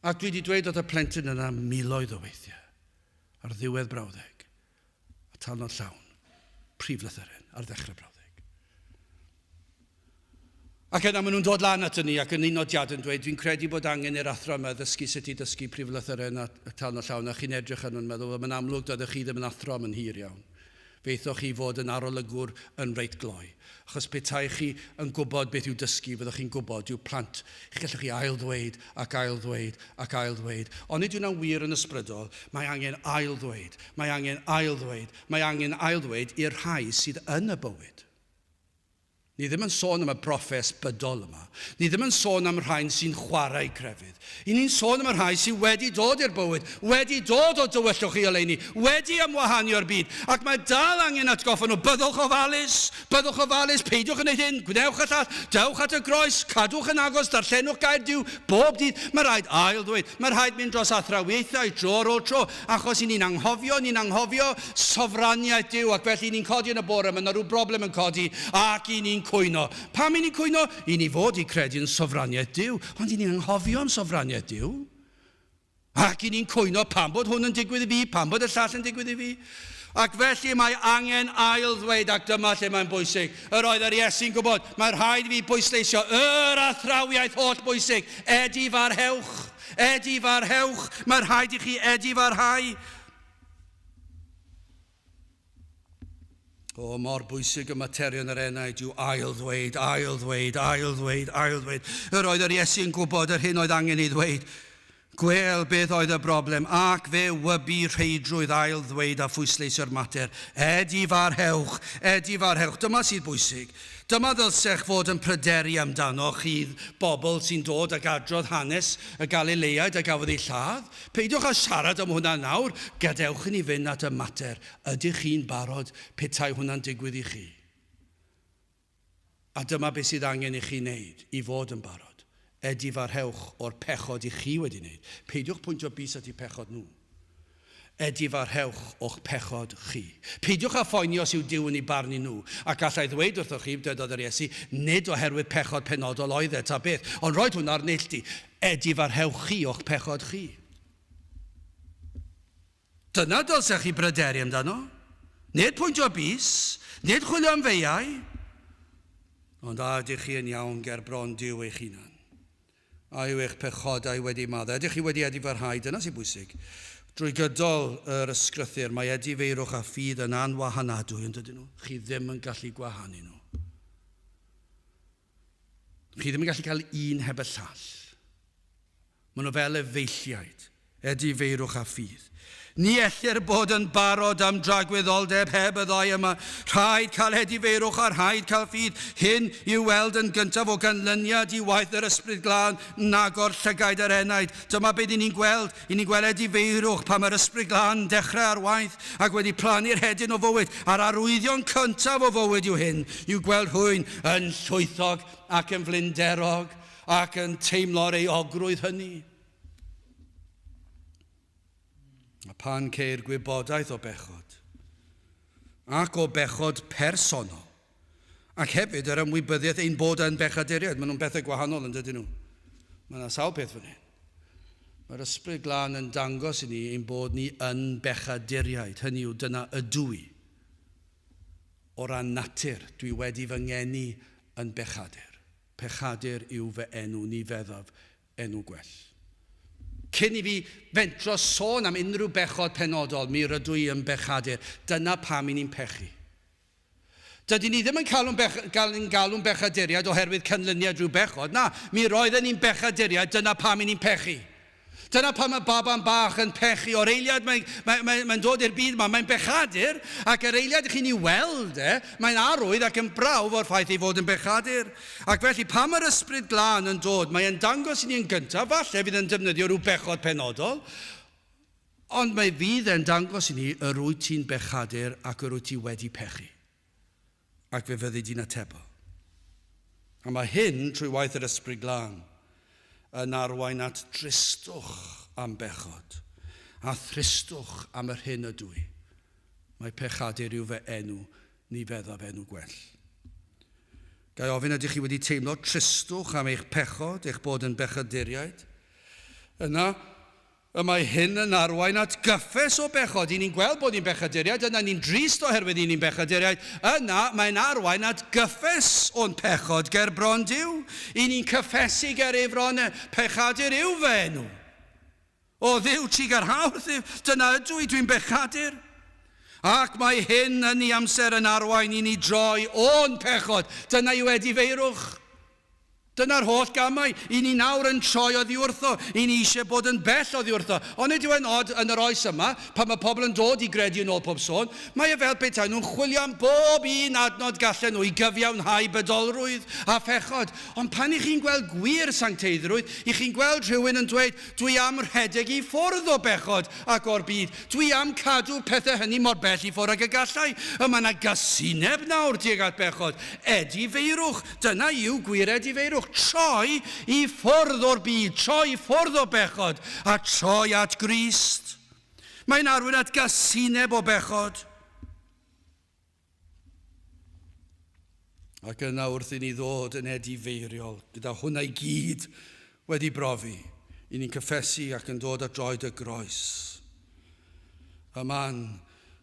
A dwi 'di dweud wrth y plentyn yna miloedd o weithiau, ar ddiwedd brawddeg, a talnod llawn, prif lythyren, ar ddechrau brawddeg. Ac yna maen nhw'n dod lan at ni ac yn un nodiad yn dweud, dwi'n credu bod angen i'r athro yma ddysgu sut i ddysgu prif lythyren a talnod llawn, a chi'n edrych ar nhw'n meddwl, wel, mae'n amlwg doeddech chi ddim yn athro am yn hir iawn. Fe aethoch chi i fod yn arolygwr yn reit gloi, achos petai chi yn gwybod beth yw dysgu, fyddwch chi'n gwybod, dyw plant, chi gallwch chi ail-ddweud ac ail-ddweud ac ail-ddweud, ond nid yw hwnna'n wir yn ysbrydol, mae angen ail-ddweud, mae angen ail-ddweud, mae angen ail-ddweud i'r rhai sydd yn y bywyd. Ni ddim yn sôn am y broffes bydol yma. Ni ddim yn sôn am rhain sy'n chwarae crefydd. Y ni'n sôn am y rhai sy wedi dod i'r bywyd, wedi dod o dywyllwch i oleuni, wedi ymwahanio'r byd, ac mae dal angen atgoffa nhw, byddwch ofalus, byddwch ofalus, peidiwch yn neud hyn, gwnewch y llall, dewch at y groes, cadwch yn agos, darllenwch gair Duw bob dydd, mae rhaid ail-ddweud, mae rhaid mynd dros athrawiaethau tro ar ôl tro, Achos i ni'n anghofio, ni'n anghofio sofraniaeth Duw, ac felly i ni'n codi yn y bore, mae yna rhyw broblem yn codi, ac i ni'n cwyno. Pam i ni'n cwyno? I ni fod i credu yn sofraniaeth Duw, ond i ni'n anghofio'n sofraniaeth Duw. Ac i ni'n cwyno pam bod hwn yn digwydd i fi, pam bod y llall yn digwydd i fi. Ac felly mae angen ail ddweud, ac dyma lle mae'n bwysig, yr oedd yr Iesu'n gwybod, mae rhaid i fi bwysleisio yr athrawiaeth holl bwysig, Edi farhewch. Edifarhewch, mae rhaid i chi edifarhau. O, mor bwysig y materion yr enaid yw ail-ddweud, ail-ddweud, ail-ddweud, ail-ddweud. Yr oedd yr Iesu'n gwybod yr hyn oedd angen ei ddweud. Gwel beth oedd y broblem, ac fe wybu rheidrwydd ail-ddweud a phwysleisio'r mater. Edifarhewch, edifarhewch, dyma sydd bwysig. Dyma ddylsech fod yn pryderu amdano, chi bobl sy'n dod ag adrodd hanes y Galileaid a gafodd eu lladd. Peidiwch â siarad am hwnna nawr. Gadewch i ni fynd at y mater. Ydych chi'n barod petai hwnna'n digwydd i chi? A dyma beth sydd angen i chi wneud i fod yn barod. A difahrewch o'r pechod i chi wedi wneud. Peidiwch pwyntio bys at eu pechod nhw. A difahrewch o'ch pechod chi. Peidiwch â phoeni os yw Duw yn eu barnu nhw. A galla i ddweud wrthoch chi, dywedodd yr Iesu, nid oherwydd pechod penodol oedd e, ta beth, ond roedd hwn ar neilltu. A difahrewch chi o'ch pechod chi. Dyna dylsech chi bryderu amdano, nid pwyntio bys, nid chwilio am feiau. Ond a ydych chi yn iawn ger bron Duw eich hunan? A yw eich pechodau wedi maddau? Ydych chi wedi edifarhau? Dyna sy'n bwysig. Drwy gydol yr ysgrythyr, mae edifeirwch a ffydd yn anwahanadwy, yn dydyn nhw? Chi ddim yn gallu gwahanu nhw. Chi ddim yn gallu cael un heb y llall. Maen nhw fel efeilliaid, edifeirwch a ffydd. Ni ellir bod yn barod am dragwyddoldeb heb y ddau yma. Rhaid cael edifeirwch a rhaid cael ffydd. Hyn i'w weld yn gyntaf o ganlyniad i waith yr Ysbryd Glân yn agor llygaid yr enaid. Dyma be dyn ni'n gweld I ni gweledu feirwch pan mae'r Ysbryd Glân dechrau ar waith ac wedi plannu'r hedyn o fywyd a'r arwyddion cyntaf o fywyd yw hyn, yw gweld rhywun yn llwythog ac yn flinderog ac yn teimlo'r euogrwydd hynny. A phan ceir gwybodaeth o bechod, ac o bechod personol, Ac hefyd yr ymwybyddiaeth ein bod yn bechaduriaid. Maen nhw'n bethau gwahanol yn dydyn nhw? Mae yna sawl peth fan hyn. Mae'r Ysbryd Glân yn dangos i ni ein bod ni yn bechaduriaid, hynny yw dyna ydw i. O ran natur, dwi wedi fy ngeni yn bechadur. Pechadur yw fy enw, ni feddaf enw gwell. Cyn i fi fentro sôn am unrhyw bechod penodol, mi rydw i yn bechadur. Dyna pam i ni'n pechu. Dydyn ni ddim yn galw'n bech- gael yn galw'n bechaduriaid oherwydd canlyniad rhyw bechod, na, mi roedden ni'n bechaduriaid, dyna pam i ni'n pechu. Dyna pam mae baban bach yn pechu, o'r eiliad mae, mae, mae, mae'n dod i'r byd yma, mae'n bechadur, ac yr eiliad i chi'n ei weld e, mae'n arwydd ac yn brawf o'r ffaith ei fod yn bechadur. Ac felly, pan mae'r Ysbryd Glân yn dod, mae e'n dangos i ni yn gyntaf, falle fydd e'n defnyddio rhyw bechod penodol, Ond mi fydd e'n dangos i ni yr wyt ti'n bechadur ac yr wyt ti wedi pechu. Ac fe fyddi di'n atebol. A mae hyn, trwy waith yr Ysbryd Glân, yn arwain at dristwch am bechod, a thristwch am yr hyn ydw i. Mae pechadur yw fy enw, ni feddaf enw gwell. Ga i ofyn, ydych chi wedi teimlo tristwch am eich pechod, eich bod yn bechaduriaid? Yna, Y mae hyn yn arwain at gyffes o bechod. I ni'n gweld bod ni'n bechaduriaid, yna ni'n drist oherwydd i ni'n bechaduriaid, yna mae'n arwain at gyffes o'n pechod ger bron Duw. I ni'n cyffesu ger ei fron e, pechadur yw fy enw. O Dduw, ti ger hawdd Dduw, dyna ydw i, dwi'n bechadur. Ac mae hyn yn ei amser yn arwain i ni droi o'n pechod, dyna yw edifeirwch. Dyna'r holl gamau. I ni nawr yn troi oddi wrtho. I ni eisiau bod yn bell oddi wrtho. Ond nid yw e'n od yn yr oes yma, pan mae pobl yn dod i gredu yn ôl pob sôn, mae e fel petai nhw'n chwilio am bob un adnod gallen nhw i gyfiawnhau bydolrwydd a phechod. Ond pan i chi'n gweld gwir sancteiddrwydd, i chi'n gweld rhywun yn dweud, Dwi am rhedeg i ffwrdd o bechod ac o'r byd. Dwi am cadw pethau hynny mor bell i ffwrdd ag y galla i. Y mae 'na gasineb nawr tuag at bechod. Edifeirwch. Dyna yw gwired i feirwch, troi i ffwrdd o'r byd, troi i ffwrdd o bechod, a troi at Grist. Mae'n arwain at gasineb o bechod. Ac yna wrth i ni ddod yn edifeiriol, gyda hwnna i gyd wedi brofi, i ni'n cyffesu ac yn dod at droed y groes. Y man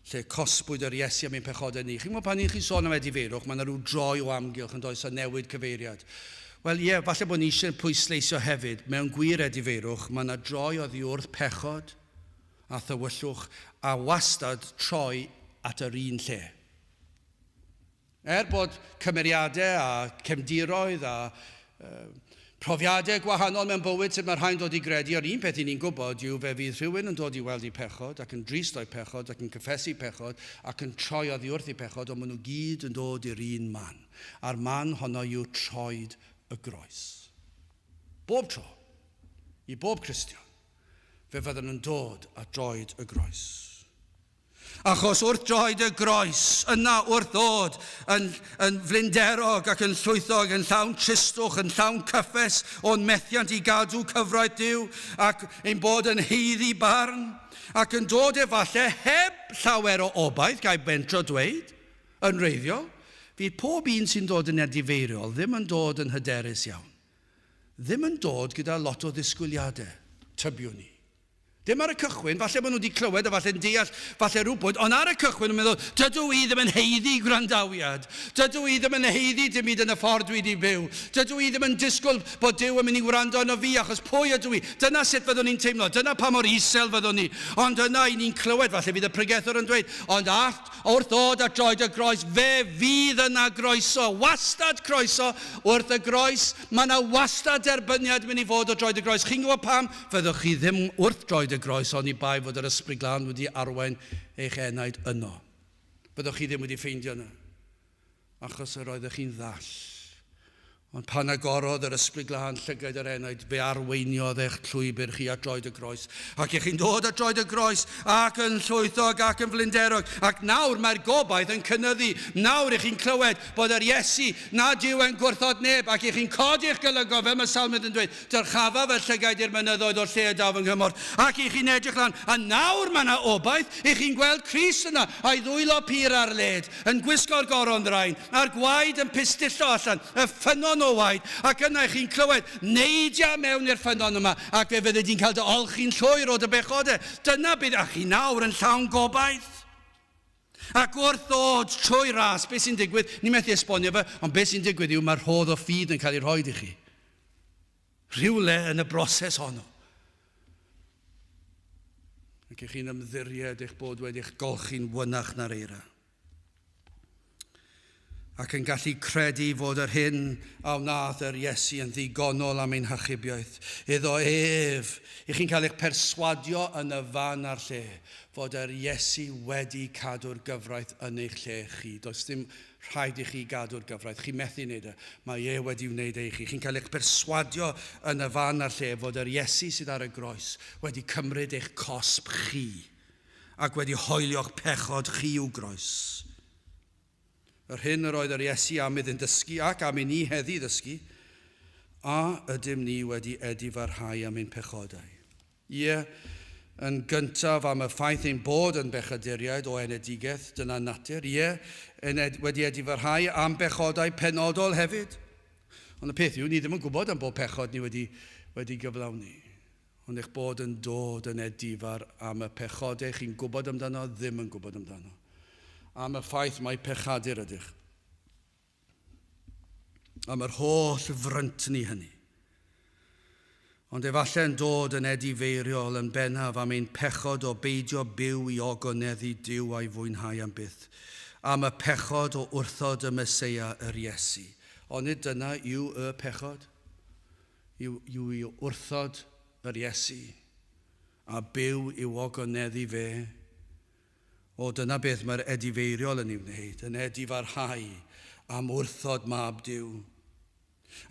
lle cosbwyd yr Iesu am ein pechodau ni. Chi'n gwybod, pan 'y chi'n sôn am edifeirwch, mae 'na ryw droi o amgylch, yn does, a newid cyfeiriad. Wel, ie, falle bod ni eisiau pwysleisio hefyd, mewn gwir edifeirwch, mae 'na droi oddi wrth pechod a thywyllwch, a wastad troi at yr un lle. Er bod cymeriadau a chefndiroedd a phrofiadau gwahanol mewn bywyd sut mae rhai'n dod i gredu, yr un peth i ni'n gwybod yw fe fydd rhywun yn dod i weld eu pechod ac yn drist o'u pechod ac yn cyffesu pechod ac yn troi oddi wrth eu pechod ond maen nhw gyd yn dod i'r un man a'r man honno yw troed y groes bob tro i bob Cristion fe fyddan nhw'n dod at droed y groes. Achos wrth droed y groes, yna wrth ddod yn, yn flinderog ac yn llwythog, yn llawn tristwch, yn llawn cyffes o'n methiant i gadw cyfraith Duw ac ein bod yn heiddi barn, ac yn dod efallai heb llawer o obaith, gai bentro dweud, yn wreiddiol, fydd pob un sy'n dod yn edifeiriol ddim yn dod yn hyderus iawn. Ddim yn dod gyda lot o ddisgwyliadau, tybiwn i. Dim ar y cychwyn, falle bod nhw wedi clywed a falle'n deall, falle rywbwyd, ond ar y cychwyn nhw'n meddwl, dydw i ddim yn haeddu gwrandawiad, dydw i ddim yn haeddu dim byd yn y ffordd dwi wedi byw, dydw i ddim yn disgwyl bod Duw yn mynd i wrando arno fi achos pwy ydw i? Dyna sut fyddwn ni'n teimlo, dyna pa mor isel fyddwn ni. Ond yna i ni'n clywed, falle bydd y pregethwr yn dweud, ond allt, wrth ddod at droed y groes, fe fydd yna groeso, wastad croeso, wrth y groes, mae yna wastad derbyniad yn mynd i fod o droed y groes. Chi'n gwybod pam? Fyddwch chi ddim wrth droed y groes oni bai fod yr Ysbryd Glân wedi arwain eich enaid yno. Fyddwch chi ddim wedi ffeindio yna, achos yr oeddech chi'n ddall. Ond pan agorodd yr Ysbryd Glân llygaid yr enaid, fe arweiniodd eich llwybr chi at droed y groes. Ac y'ch chi'n dod at droed y groes, ac yn llwythog ac yn flinderog. Ac nawr mae'r gobaith yn cynyddu. Nawr y'ch chi'n clywed bod yr Iesu nad yw e'n gwrthod neb, ac y'ch chi'n codi'ch golygon, fel mae salmydd yn dweud, Dyrchafaf y llygaid i'r mynyddoedd o'r lle y daw fy nghymorth, ac i chi'n edrych lan, a nawr mae yna obaith, i chi'n gweld Crist yna, a'i ddwylo pur ar led, yn gwisgo'r goron ddraen, a'r gwaed yn pistillo allan, y ffynnon o waed, ac yna i chi'n clywed, Neidia mewn i'r ffynnon yma, ac fe fyddi di'n cael dy olchi'n llwyr o dy bechode. Dyna beth, a chi nawr yn llawn gobaith. Ac wrth ddod trwy ras, beth sy'n digwydd? Ni methu esbonio fe, ond beth sy'n digwydd yw mae rhodd o ffydd yn cael ei rhoi i chi. Rhywle yn y broses honno. Ac ych chi'n ymddiried eich bod wedi'ch golchi'n fynach na'r eira. ac yn gallu credu fod yr hyn a wnaeth yr Iesu yn ddigonol am ein hachubiaeth. Iddo ef, i chi'n cael eich perswadio yn y fan a'r lle fod yr Iesu wedi cadw'r gyfraith yn eich lle chi. Does dim rhaid i chi gadw'r gyfraith, chi methu wneud e, mae e wedi wneud e i chi. Chi'n cael eich perswadio yn y fan a'r lle fod yr Iesu sydd ar y groes wedi cymryd eich cosb chi ac wedi hoelio'ch pechod chi i'w groes. Yr hyn yr oedd yr Iesu am iddynt ddysgu ac am i ni heddi ddysgu, A ydym ni wedi edifarhau am ein pechodau? Ie, yn gyntaf am y ffaith ein bod yn bechaduriaid o enedigeth, dyna natur, ie, yn ed wedi edifarhau am bechodau penodol hefyd. Ond y peth yw, ni ddim yn gwybod am bob pechod ni wedi wedi gyflawni. Ond eich bod yn dod yn edifar am y pechodau chi'n gwybod amdano, ddim yn gwybod amdano. Am y ffaith mai pechadur ydych. Am yr holl fryntni hynny. Ond efallai yn dod yn edifeiriol yn bennaf am ein pechod o beidio byw i ogoneddu Duw a'i fwynhau am byth. Am y pechod o wrthod y Meseia, yr Iesu. Onid dyna yw y pechod? yw i wrthod yr Iesu a byw i'w ogoneddu fe. O, dyna beth mae'r edifeiriol yn ei wneud, yn edifarhau am wrthod Mab Duw,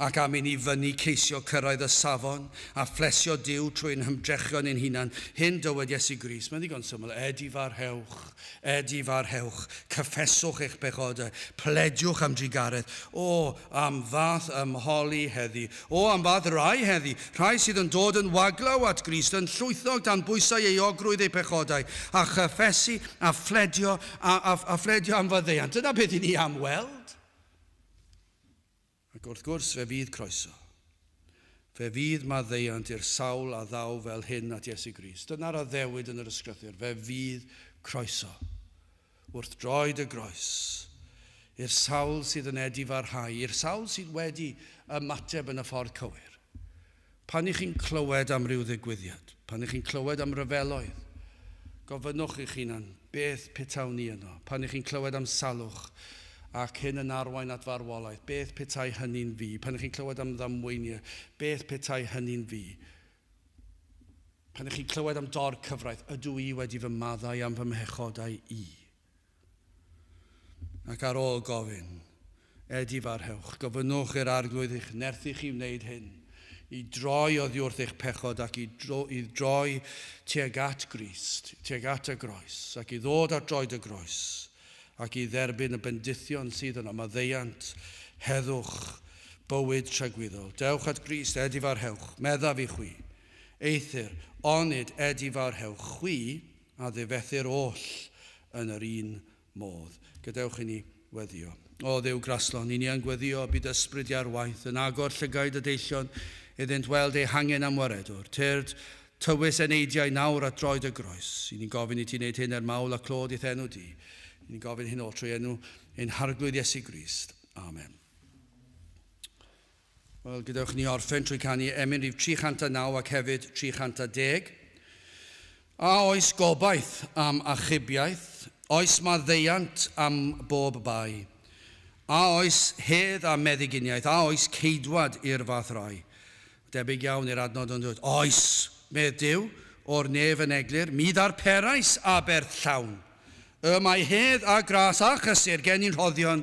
ac am i ni fynnu ceisio cyrraedd y safon a phlesio Duw trwy ein hymdrechion ein hunan. Hyn dywed Iesu Grist, mae'n ddigon syml, edifarhewch. Er di farhewch, cyffeswch eich pechodau, plediwch am drugaredd. O, am fath ymholi heddi! O, am fath rai heddi! Rhai sydd yn dod yn waglaw at Grist, yn llwythog dan bwysau euogrwydd eu pechodau, a chyffesu, a phledio, a, a, a phledio am faddeuant. Dyna beth i ni am weld. Ac wrth gwrs fe fydd croeso. Fe fydd maddeuant i'r sawl a ddaw fel hyn at Iesu Grist. Dyna'r addewid yn yr Ysgrythyr, fe fydd croeso, wrth droed y groes, i'r sawl sydd yn edifarhau, i'r sawl sydd wedi ymateb yn y ffordd cywir. Pan y'ch chi'n clywed am ryw ddigwyddiad, pan y'ch chi'n clywed am ryfeloedd, gofynnwch i'ch hunan, beth petawn i yno? Pan y'ch chi'n clywed am salwch ac hyn yn arwain at farwolaeth, beth petai hynny'n fi? Pan y'ch chi'n clywed am ddamweiniau, beth petai hynny'n fi? Pan y'ch chi'n clywed am dor cyfraith, ydw i wedi fy maddau am fy mhechodau i? Ac ar ôl gofyn, Ed i farhewch, gofynnwch i'r Arglwydd eich nerthu chi wneud hyn, i droi oddi wrth eich pechod ac i droi tuag at Grist, tuag at y groes, ac i ddod at droed y groes, ac i dderbyn y bendithion sydd yno, maddeuant, heddwch, bywyd tragwyddol. Dewch at Grist, Ed i farhewch, meddaf i chwi. Eithr, onid Ed i farhewch chwi? a ddifethu'r oll yn yr un modd. Gadewch inni weddio. O Dduw graslon, i ni yn gweddio y byd ysbryd iar waith, yn agor llygaid y deillion iddynt weld eu hangen am waredwr. Tyrd, tywys eneidiau nawr at droed y groes. I ni'n gofyn i ti wneud hyn er mawl a clod i'th enw di. I ni'n gofyn hyn oll trwy enw ein Harglwydd Iesu Grist. Amen. Wel, gadewch i ni orffen trwy canu emyn rhif 309 ac hefyd 310. A oes gobaith am achubiaeth? Oes maddeuant am bob bai? A oes hedd a meddyginiaeth? A oes ceidwad i'r fath rai? Debyg iawn i'r adnod yn dwyt. Oes! medd Duw, o'r nef yn eglur, mi ddarperais aberth llawn. Y mae hedd a gras a chysur gennin rhoddion